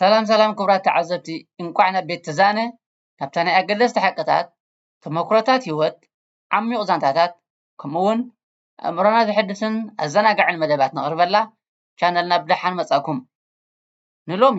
ሰላም ሰላም ክቡራት ተዓዘብቲ እንቋዕ ናብ ቤት ትዛነ ካብታ ናይ ኣገደስቲ ሓቅታት ተመኩሮታት ሂወት ዓሚቝ ዛንታታት ከምኡ ውን ኣእምሮና ዘሐድስን ኣዘናጋዕን መደባት ነቕርበላ ቻነልና ብደሓን መጻእኩም ንሎሚ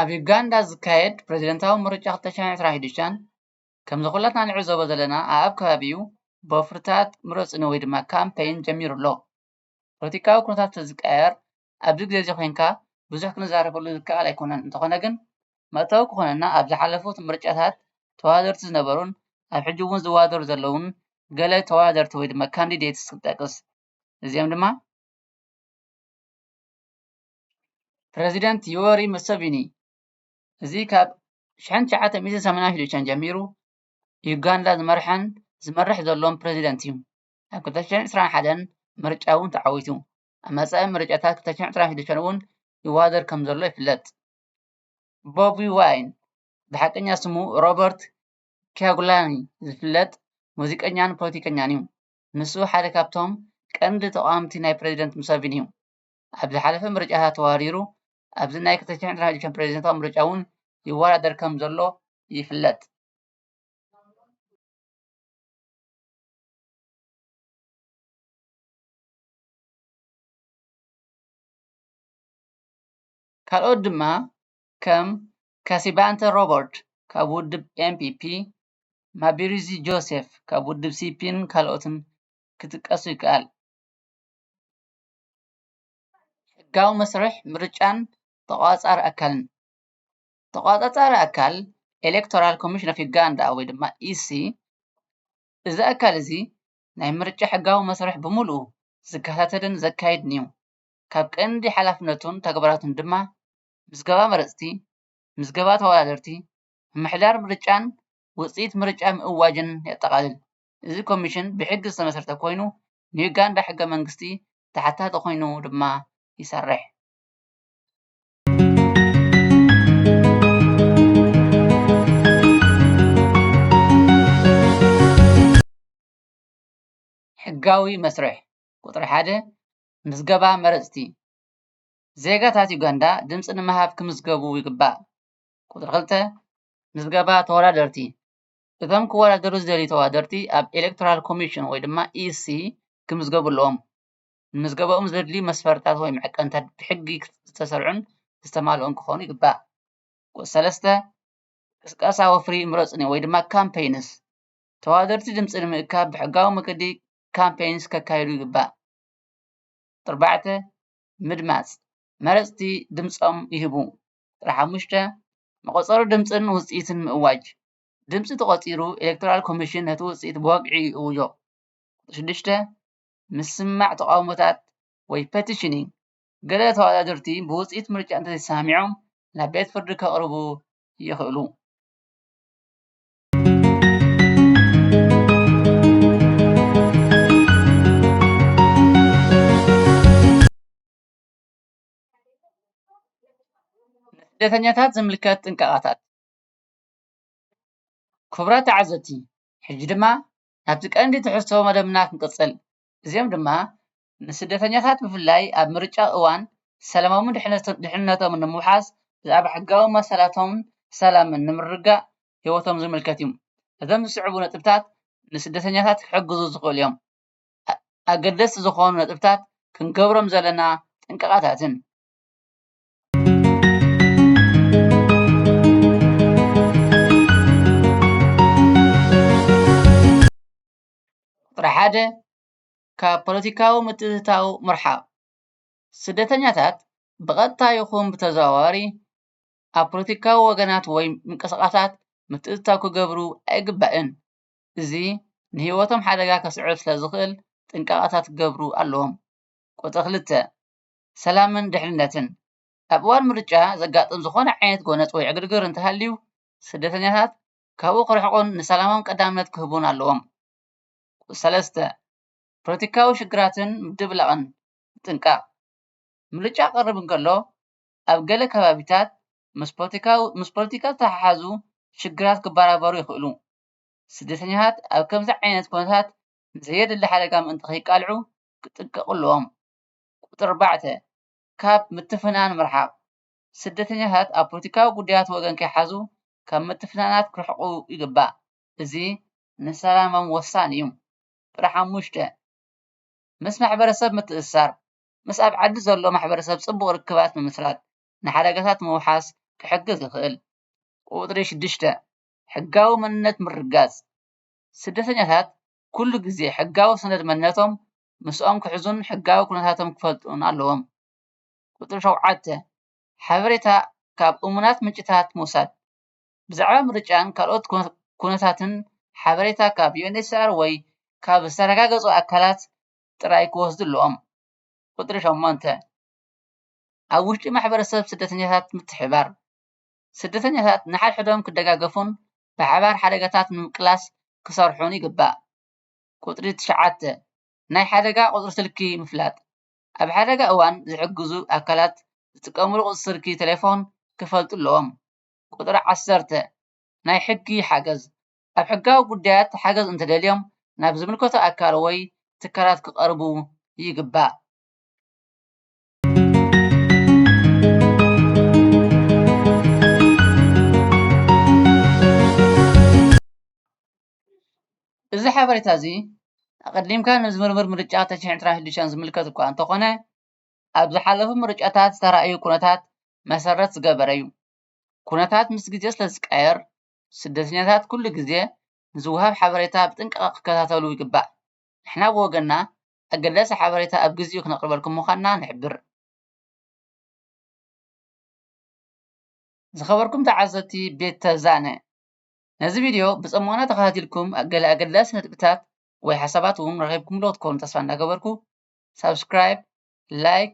ኣብ ዩጋንዳ ዝካየድ ፕረዚደንታዊ ምርጫ ክልተ ሸሕን ዕስራን ሒዱሻን ከምዚ ኩላትና ንዕዘቦ ዘለና ኣኣብ ከባቢኡ ብወፍርታት ምረጹኒ ወይ ድማ ካምፐይን ጀሚሩ ኣሎ። ፖለቲካዊ ኩነታት ተዝቀያየር ኣብዚ ግዜ እዚ ኮንካ ብዙሕ ክንዛረበሉ ዝከኣል ኣይኮነን እንተኾነ ግን መእተዊ ክኾነና ኣብ ዝሓለፉት ምርጫታት ተወዳደርቲ ዝነበሩን ኣብ ሕጂ ውን ዝወዳደሩ ዘለዉን ገለ ተወዳደርቲ ወይ ድማ ካንዲዴትስ ክንጠቅስ እዚኦም ድማ ፕረዚደንት ዩወሪ ሙሰቪኒ እዚ ካብ ሽሕን ትሽዓተን ሚእትን ሰማንያን ሽዱሽተን ጀሚሩ ዩጋንዳ ዝመርሐን ዝመርሕ ዘሎን ፕረዚደንት እዩ። ኣብ ክልተ ሽሕን ዕስራን ሓደን ምርጫ እውን ተዓዊቱ። ኣብ መጻኢ ምርጫታት ክልተ ሽሕን ዕስራን ሽዱሽተን እውን ይወዳደር ከም ዘሎ ይፍለጥ። ቦቢ ዋይን ብሓቀኛ ስሙ ሮበርት ኪያጉላኒ ዝፍለጥ ሙዚቀኛን ፖለቲከኛን እዩ። ንሱ ሓደ ካብቶም ቀንዲ ተቓወምቲ ናይ ፕረዚደንት ሙሰቪኒ እዩ። ኣብ ዝሓለፈ ምርጫታት ተወዳዲሩ ኣብዚ ናይ 2016 ፕሬዝደንታዊ ምርጫ እውን ይወዳደር ከምዘሎ ይፍለጥ። ካልኦት ድማ ከም ካሲባንተ ሮበርት ካብ ውድብ ኤምፒፒ፣ ማቢሪዚ ጆሴፍ ካብ ውድብ ሲፒን ካልኦትን ክጥቀሱ ይከኣል። ሕጋዊ መስርሕ ምርጫን ተቖፃፃሪ ኣካልን ተቖፃፃሪ ኣካል ኤሌክቶራል ኮሚሽን ኦፍ ዩጋንዳ ወይ ድማ EC እዚ ኣካል እዚ ናይ ምርጫ ሕጋዊ መስርሕ ብምልኡ ዝከታተልን ዘካይድን እዩ፡፡ ካብ ቀንዲ ሓላፍነቱን ተግባራቱን ድማ ምዝገባ መረፅቲ፣ ምዝገባ ተወዳደርቲ፣ ምምሕዳር ምርጫን ውፅኢት ምርጫ ምእዋጅን የጠቓልል፡፡ እዚ ኮሚሽን ብሕጊ ዝተመስረተ ኮይኑ ንዩጋንዳ ሕገ መንግስቲ ተሓታቲ ኮይኑ ድማ ይሰርሕ። ሕጋዊ መስርሕ ቁፅሪ ሓደ ምዝገባ መረፅቲ ዜጋታት ዩጋንዳ ድምፂ ንምሃብ ክምዝገቡ ይግባእ። ቁፅሪ ክልተ ምዝገባ ተወዳደርቲ እቶም ክወዳደሩ ዝደልዩ ተወዳደርቲ ኣብ ኤሌክቶራል ኮሚሽን ወይ ድማ EC ክምዝገቡ ኣለዎም። ንምዝገበኦም ዘድልዩ መስፈርትታት ወይ መዐቀኒታት ብሕጊ ዝተሰርዑን ዝተማልኡን ክኾኑ ይግባእ። ቁጽሪ ሰለስተ፣ ቅስቀሳ ወፍሪ ምረጹኒ ወይ ድማ Campaigns፣ ተወዳደርቲ ድምጺ ንምእካብ ብሕጋዊ መገዲ Campaigns ከካይዱ ይግባእ። ኣርባዕተ፣ ምድማጽ፣ መረጽቲ ድምጾም ይህቡ። ቁጽሪ ሓሙሽተ፣ መቖጸሪ ድምጽን ውጽኢትን ምእዋጅ፣ ድምፂ ተቖፂሩ ኤሌክቶራል ኮሚሽን ነቲ ውፅኢት ብወግዒ ይእውጆ። ቁፅሪ ሽዱሽተ፣ ምስማዕ ተቓውሞታት ወይ ፐቲሽኒንግ፣ ገለ ተወዳደርቲ ብውፅኢት ምርጫ እንተዘይተሰማሚዖም ናብ ቤት ፍርዲ ከቕርቡ ይኽእሉ። ንስደተኛታት ዝምልከት ጥንቃቐታት ክቡራት ተዓዘብቲ ሕጂ ድማ ናብቲ ቀንዲ ትሕዝቶ መደብና ክንቅጽል እዚኦም ድማ ንስደተኛታት ብፍላይ ኣብ ምርጫ እዋን ሰላሞምን ድሕነቶምን ንምውሓስ ብዛዕባ ሕጋዊ መሰላቶምን ሰላምን ንምርግጋእ ሂወቶም ዝምልከት እዩ እዞም ዝስዕቡ ነጥብታት ንስደተኛታት ክሕግዙ ዝኽእሉ እዮም ኣገደስቲ ዝኾኑ ነጥብታት ክንገብሮም ዘለና ጥንቃቐታትን ቁጥሪ ሓደ ካብ ፖለቲካዊ ምትእትታው ምርሓቕ ስደተኛታት ብቐጥታ ይኹን ብተዘዋዋሪ ኣብ ፖለቲካዊ ወገናት ወይ ምንቅስቓሳት ምትእትታው ክገብሩ ኣይግባእን። እዚ ንህይወቶም ሓደጋ ከስዕብ ስለዝኽእል ጥንቃቐታት ክገብሩ ኣለዎም። ቁፅሪ ክልተ ሰላምን ድሕንነትን፣ ኣብ እዋን ምርጫ ዘጋጥም ዝኾነ ዓይነት ጎነጽ ወይ ዕግርግር እንተሃልዩ፣ ስደተኛታት ካብኡ ክርሕቁን ንሰላሞም ቀዳምነት ክህቡን ኣለዎም። ሰለስተ፣ ፖለቲካዊ ሽግራትን ምድብላቕን ምጥንቃቕ፣ ምርጫ ክቐርብ እንከሎ፣ ኣብ ገለ ከባቢታት ምስ ፖለቲካ ዝተሓሓዙ ሽግራት ክበራበሩ ይኽእሉ። ስደተኛታት ኣብ ከምዚ ዓይነት ኩነታት ንዘየድሊ ሓደጋ ምእንቲ ከይቃልዑ ክጥንቀቑ ኣለዎም። ቁጽሪ ኣርባዕተ፣ ካብ ምትፍናን ምርሓቕ፣ ስደተኛታት ኣብ ፖለቲካዊ ጉዳያት ወገን ከይሓዙ ካብ ምትፍናናት ክርሕቁ ይግባእ፣ እዚ ንሰላሞም ወሳኒ እዩ። ቁጽሪ ሓሙሽተ፣ ምስ ማሕበረሰብ ምትእስሳር፣ ምስ ኣብ ዓዲ ዘሎ ማሕበረሰብ ጽቡቕ ርክባት ምምስራት ንሓደጋታት ምውሓስ ክሕግዝ ይኽእል። ቁጽሪ ሽዱሽተ፣ ሕጋዊ መንነት ምርግጋጽ፣ ስደተኛታት ኩሉ ግዜ ሕጋዊ ሰነድ መንነቶም ምስኦም ክሕዙን ሕጋዊ ኩነታቶም ክፈልጡን ኣለዎም። ቁጽሪ ሸውዓተ፣ ሓበሬታ ካብ እሙናት ምንጭታት ምውሳድ፣ ብዛዕባ ምርጫን ካልኦት ኩነታትን ሓበሬታ ካብ UNHCR ወይ ካብ ዝተረጋገጹ ኣካላት ጥራይ ክወስዱ ኣለዎም። ቁጽሪ ሸሞንተ፣ ኣብ ውሽጢ ማሕበረሰብ ስደተኛታት ምትሕብባር፣ ስደተኛታት ንሓድሕዶም ክደጋገፉን ብሓባር ሓደጋታት ንምቅላስ ክሰርሑን ይግባእ። ቁጽሪ ትሽዓተ፣ ናይ ሓደጋ ቁጽሪ ስልኪ ምፍላጥ፣ ኣብ ሓደጋ እዋን ዝሕግዙ ኣካላት ዝጥቀምሉ ቁጽሪ ስልኪ ተሌፎን ክፈልጡ ኣለዎም። ቁጽሪ ዓሰርተ፣ ናይ ሕጊ ሓገዝ፣ ኣብ ሕጋዊ ጉዳያት ሓገዝ እንተደልዮም ናብ ዝምልከቶ ኣካል ወይ ትካላት ክቐርቡ ይግባእ። እዚ ሓበሬታ እዚ ኣቐዲምካ ንዝምርምር ምርጫ ተሽሕን ጥራይ ሕርሻን ዝምልከት እኳ እንተኾነ ኣብ ዝሓለፉ ምርጫታት ዝተራእዩ ኩነታት መሰረት ዝገበረ እዩ። ኩነታት ምስ ግዜ ስለ ዝቀያየር ስደተኛታት ኩሉ ግዜ ንዝወሃብ ሓበሬታ ብጥንቃቐ ክከታተሉ ይግባእ። ንሕና ብወገንና ኣገዳሲ ሓበሬታ ኣብ ግዚኡ ክነቕርበልኩም ምዃንና ንሕብር። ዝኸበርኩም ተዓዘብቲ ቤት ተዛነ! ነዚ ቪድዮ ብጽሞና ተኸታቲልኩም ገለ ኣገዳሲ ነጥብታት ወይ ሓሳባት እውን ረኺብኩምሉ ክትኮኑ ተስፋ እንዳገበርኩ ሳብስክራይብ ላይክ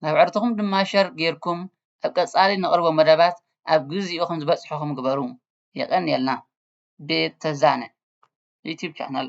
ናብ ዕርትኹም ድማ ሸር ጌርኩም ኣብ ቀጻሊ ነቕርቦ መደባት ኣብ ግዚኡ ከም ዝበጽሕኹም ግበሩ የቐንየልና ቤት ተዛነ ዩትዩብ ቻነል